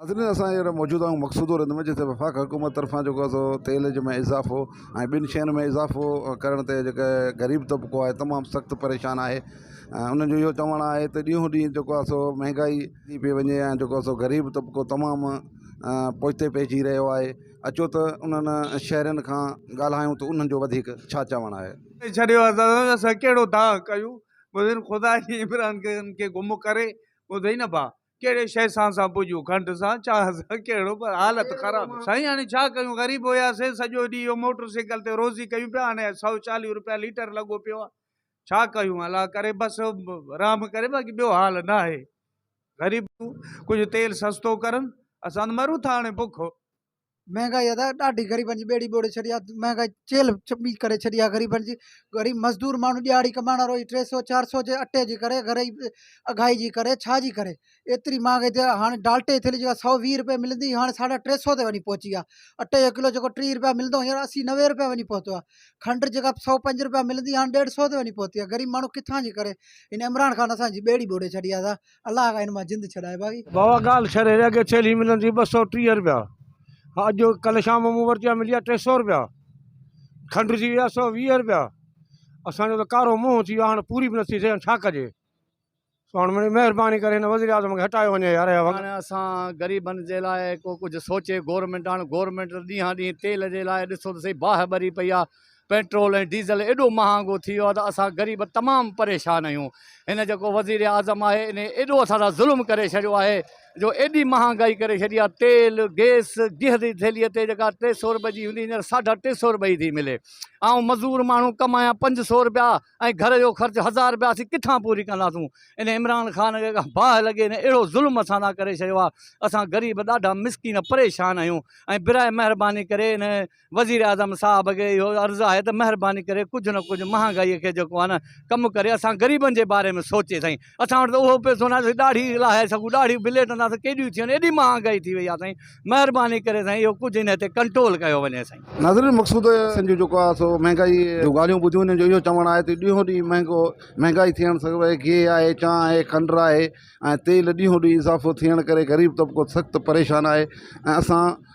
ناظرين اسان جي موجوده ۽ مقصودو رند ۾ جتي وفاقي حڪومت طرفان جيڪو آهي سو تيل ۾ اضافو ۽ ٻين شين ۾ اضافو ڪرڻ تي جيڪي غريب طبقو آهي تمام سخت پريشان آهي ۽ انهن جو اهو چوڻ آهي ته ڏينهون ڏينهن جيڪو آهي سو مهنگائي ٿي پئي وڃي ۽ جيڪو آهي سو غريب طبقو تمام پوئتي پئجي رهيو آهي اچو ته انهن شهرين کان ڳالهايون ته انهن جو وڌيڪ ڇا چوڻ آهي ڇڏيو آهي ته اسان ڪهڙو دانهن ڪيون مدين خدا جي عمران کان کي گم ڪري ٻڌئي نه ڀا ڪهڙي شي سان سان پوڄيون کنڊ سان چانهه سان ڪهڙو پر حالت خراب سائين هاڻي ڇا ڪيون غريب هياسين سڄو ڏينهن اهو موٽر سائيڪل تي روزي ڪيون پيا هاڻي سؤ چاليهه روپيا ليٽر لڳو پيو آهي ڇا ڪيون الله ڪري بس رحم ڪري باقي ٻيو حال نه آهي غريب ڪجهه تيل سستو ڪرن اسان مرون ٿا هاڻي بک مهانگائي ادا ڏاڍي غريبن جي ٻيڙي ٻوڙي ڇڏي آهي مهانگائي چيلهه چٻي ڪري ڇڏي آهي غريبن جي غريب مزدور ماڻهو ڏهاڙي ڪمائڻ وارو هي ٽي سو چار سو جي اٽي جي ڪري غريب اگهائي جي ڪري ڇا جي ڪري ايتري مهانگائي تي هاڻي ڊال ٽي ٿيلهي جيڪا سؤ ويهه روپئي ملندي هي هاڻي ساڍا ٽي سو تي وڃي پهچي آهي اٽي جو ڪلو جيڪو ٽيهه روپيا ملندو هو هينئر اسي نوي روپيا وڃي پهتو آهي کنڊ جيڪا سؤ پنج روپيا ملندي هاڻي ڏيڍ سو تي وڃي پهتي آهي غريب ماڻهو ڪٿان جي ڪري هن عمران خان اسانجي ٻيڙي ٻوڙي ڇڏي آهي ادا الله کان هن مان جند ڇڏائي باغي. بابا ڳالهه ڇڏ هيڏي اڳي ٿيلهي ملندي ٻه سؤ ٽيهه رپيا ها اڄ ڪلهه شام مون ورتي آهي ملي آهي ٽي سؤ رپيا کنڊ ٿي وئي آهي سؤ ويهه رپيا اسان جو ته ڪارو منهن ٿي ويو هاڻ پوري به نٿي ٿئي هاڻ ڇا ڪجي سو هاڻ مڙي مهرباني ڪري هن وزير اعظم کي هٽايو وڃي يار اهي وڳا. هاڻ اسان غريبن جي لاء ڪو ڪجهه سوچي گورنمينٽ هاڻ گورنمينٽ ڏينهان ڏينهن تيل جي لاء ڏسو ته سهي باهه ٻري پئي آهي پيٽرول ۽ ڊيزل ايڏو مهانگو ٿي ويو آهي ته اسان غريب تمام پريشان آهيون هن جيڪو وزيراعظم آهي ان ايڏو اسان سان ظلم ڪري ڇڏيو آهي جو ايڏي مهانگائي ڪري ڇڏي آهي تيل گيس گيهه جي ٿيلهي تي جيڪا ٽي سئو رپئي جي هوندي هينئر ساڍا ٽي سئو رپئي ٿي ملي آئون مزور ماڻهو ڪمايان پنج سئو رپيا ۽ گهر جو خرچ هزار رپيا اسين ڪٿان پوري ڪنداسون ان عمران خان کي باهه لڳي هن اهڙو ظلم اسان سان ڪري ڇڏيو آهي اسان غريب ڏاڍا مسڪين پريشان آهيون ۽ براء مهرباني ڪري ان وزيراعظم صاحب کي اهو عرض آهي ته مهرباني ڪري ڪجهه نه ڪجهه مهانگائي کي جيڪو آهي نه ڪم ڪري اسان غريبن جي باري ۾ سوچي سائين اسان وٽ ته اهو پيسو ناهي ڏاڙهي لاهي سگهون ڏاڙهيون به ليٽندا ته ڪيڏيون ٿيون ايڏي مهانگائي ٿي وئي آهي سائين مهرباني ڪري سائين اهو ڪجهه هن تي ڪنٽرول ڪيو وڃي سائين. ناظرين مقصود سنڌ جو جيڪو آهي سو مهانگائي جون ڳالهيون ٻڌيون انهن جو اهو چوڻ آهي ته ڏينهون ڏينهن مهانگو مهانگائي ٿيڻ سان ڀئي گيهه آهي چانهه آهي کنڊ آهي ۽ تيل ڏينهون ڏينهن اضافو ٿيڻ ڪري غريب طبقو سخت پريشان آهي ۽ اسان